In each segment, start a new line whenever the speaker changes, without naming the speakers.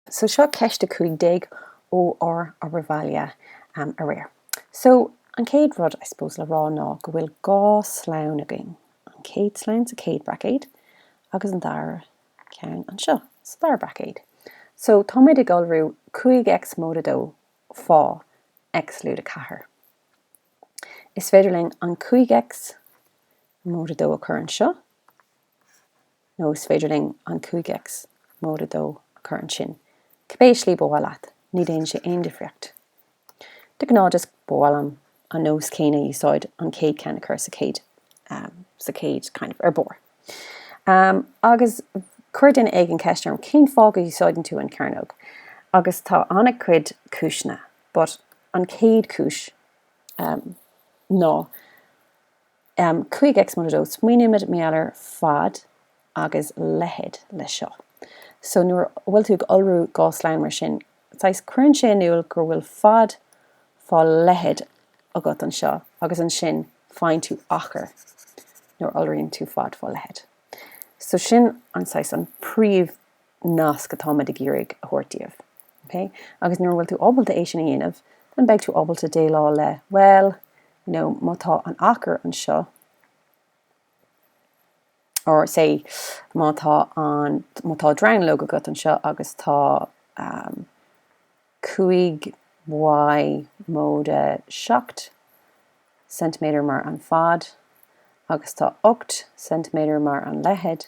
So seo ceist 15 ó ár obair bhaile aréir. So an chéad rud I suppose le rá ná go bhfuil dhá slonn againn, an chéad slonn sa chéad braicéad agus an dara ceann anseo sa dara braicéad. So táimid ag iolrú 5 X móide 2 fá X lúide 4. Is féidir linn an 5 X móide 2 a chur anseo. nó is féidir linn an 5X móide 2 a chur ansin. Cibé slí ba mhaith leat, ní dhéanann sé aon difríocht. De ghnáth just ba mhaith liom an nós céanna a úsáid, an chéad cheann a chur sa chéad sa chéad kind of ar barr. Agus chuir duine éigin ceist orm, cén fáth go úsáideann tú an chearnóg? Agus tá an-chuid cúiseanna, but an chéad chúis ná, 5 x móide 2 Smaoinímid mar gheall ar fad agus leithead le seo. So nuair a bhfuil tú ag iolrú dhá slonn mar sin, saghas, cuireann sé in iúl go bhfuil fad fá leithead agat anseo agus ansin faigheann tú achar nuair a iolraíonn tú fad fá leithead. So sin an saghas, an príomh. nasc atáimid ag iarraidh a thabhairt daoibh. Ok? Agus nuair a bhfuil tú ábalta é sin a dhéanamh, then beidh tú ábalta déileáil le, well, you know, má tá an achar anseo, or say, má tá an, má tá dronuilleog agat anseo agus tá um, 5 y móide 7 centiméadar mar an fad agus tá 8 centiméadar mar an leithead,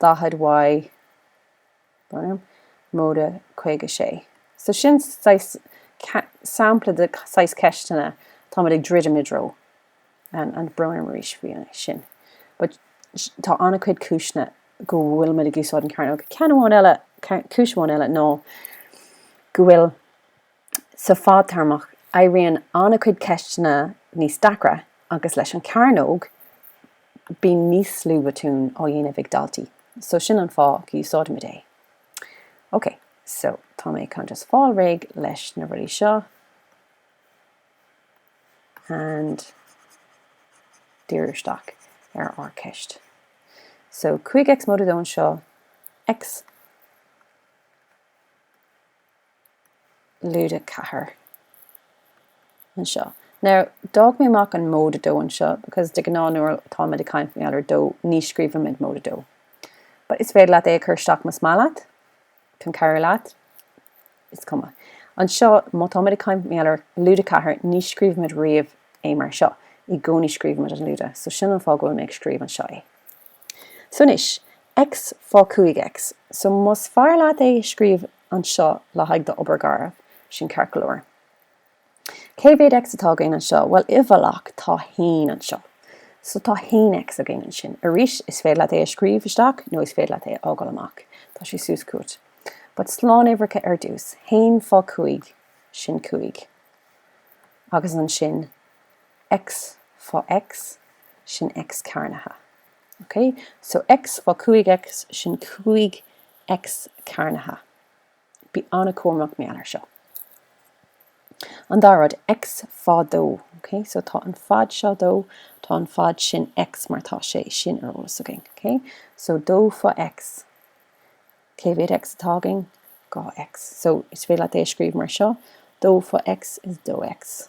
40 Y, brón orm, móide 56. So sin saghas sampla de saghas ceisteanna táimid ag druidim i dtreo and brón orm arís faoi sin. But tá an-chuid cúiseanna go bhfuilimid ag úsáid an cearnóg. Ceann amháin eile, cúis amháin eile ná go bhfuil. Sa fadtéarmach, éiríonn an-chuid ceisteanna níos deacra agus leis an cearnóg bíonn níos lú botún á dhéanamh ag daltaí so sin an fáth go úsáidimid é. Ok, so tá mé chun just fáil réidh leis na rudaí seo and díriú isteach ar ár gceist. So 5X móide dó anseo, X, lúide 4 anseo. Now, d'fhág mé amach an móide 2 anseo because de ghnáth nuair atáimid ag caint mar gheall ar 2, ní scríobhaimid móide 2. But is féidir leat é a chur isteach más maith leat, chun cabhrú leat, is cuma. Anseo, má táimid ag caint mar gheall ar lúide 4, ní scríobhaimid riamh é mar seo, i gcónaí scríobhaimid an lúide, so sin an fáth go bhfuil mé ag scríobh anseo é. So anois, X fá 5X. So más fearr leat é a scríobh anseo le haghaidh d'obair gharbh, sin ceart go leor. Cé mhéad X atá againn anseo? Bhuel, i bhfolach, tá 1 anseo. So tá 1X againn ansin. Arís, is féidir leat é a scríobh isteach nó is féidir leat é a fhágáil amach. Tá sé suas chugat. But slánuimhreacha ar dtús. 1 fá 5, sin 5. Agus ansin. X fá X, sin X cearnaithe. Ok? So X fá 5X, sin 5 X cearnaithe. Bí an-cúramach mar gheall air seo. An dara rud, X fá 2. Ok? So tá an fad seo 2, tá an fad sin X mar tá sé sin ar eolas againn. Ok? So 2 fá X, cé mhéad X atá againn? 2X. So is féidir leat é a scríobh mar seo, 2 fá X is 2X.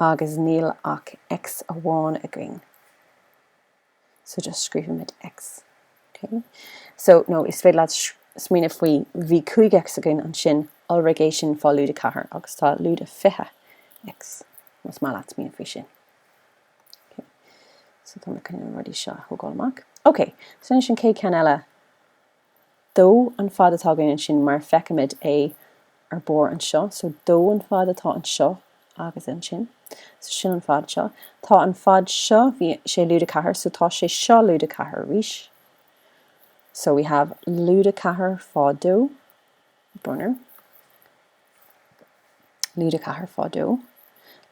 agus níl ach X amháin againn so just scríobhaimid X ok so nó is féidir leat smaoineamh faoi bhí 5 X againn ansin iolraigh é sin fá lúide 4 agus tá lúide 20 X más maith leat smaoineamh faoi sin ok so tá mé chun na rudaí seo a thógáil amach ok so anois an chéad ceann eile dó an fad atá againn ansin mar feicimid é ar barr anseo. So dó an fad atá anseo agus ansin. So sin an fad seo. Tá an fad seo, bhí sé lúide ceathair, so tá sé seo lúide ceathair arís. So we have lúide ceathair fá dó. Brón orm, lúide ceathair fá dó,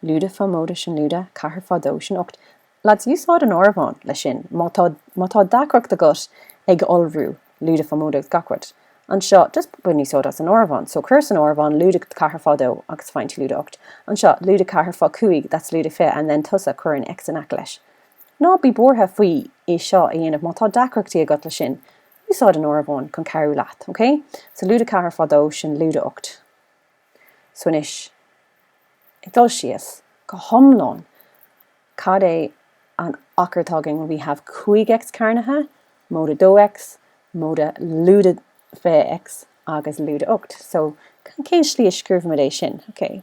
lúide fá móide sin lúide ceathair fá dó sin ocht lads úsáid an áireamhán leis sin má tá má tá deacracht agat ag iolrú lúide fá móide gach rud anseo just bain úsáid as an áireamhán so cuir san áireamhán lúide ceathair fá dó agus faigheann tú lúide ocht anseo lúide ceathair fá cúig that's lúide fiche and then tusa cuir an x in aice leis ná bí buartha faoi é seo a dhéanamh má tá deacrachtaí agat leis sin Úsáid an áireamhán chun cabhrú leat, OK? So lúide 4 fá dó, sin lúide 8. So anois, ag dul síos go hiomlán, cad é an achar atá againn? We have 5X cearnaithe, móide 2X, móide lúide 20X agus lúide 8. So cén slí a scríobhaimid é sin, OK?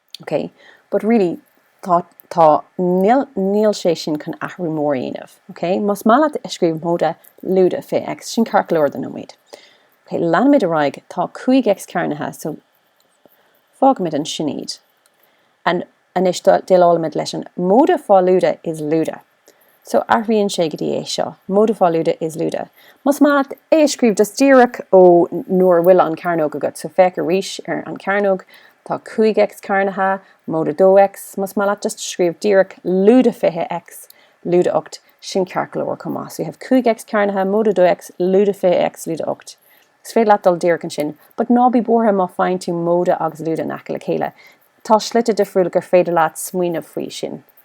OK, but really, tá, tá, níl, níl sé sin chun athrú mór a dhéanamh. OK, más maith leat a scríobh móide, lúide 20 X, sin ceart go leor don nóiméad. OK, leanaimid ar aghaidh, tá 5 X cearnaithe, so fágaimid ansin iad. And anois déileálaimid leis an móide fá lúide is lúide. So athraíonn sé go dtí é seo, móide fá lúide is lúide. Más maith leat é a scríobh just díreach ó nuair a bhfuil an cearnóg agat. So féach arís ar an cearnóg, tá 5X cearnaithe, móide 2X. Más maith leat just scríobh díreach lúide 20X, lúide 8, sin ceart go leor chomh maith. So you have 5X cearnaithe, móide 2X, lúide 20X, lúide 8. Is féidir leat dul díreach ansin, but ná bí buartha má faigheann tú móide agus lúide in aice le chéile. Tá slite difriúla gur féidir leat smaoineamh faoi sin.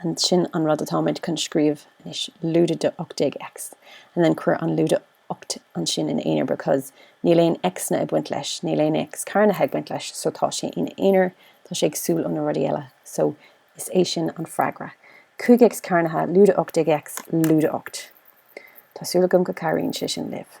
and sin an rud atáimid chun scríobh anois, lúide de 18X and then cuir an lúide 8 ansin in aonar because níl aon X-anna ag baint leis, níl aon X cearnaithe ag baint leis so tá sé ina aonar, tá sé éagsúil ó na rudaí eile so is é sin an freagra. 5 X cearnaithe, lúide 18X, lúide 8. Tá súil agam go cabhraíonn sé sin libh.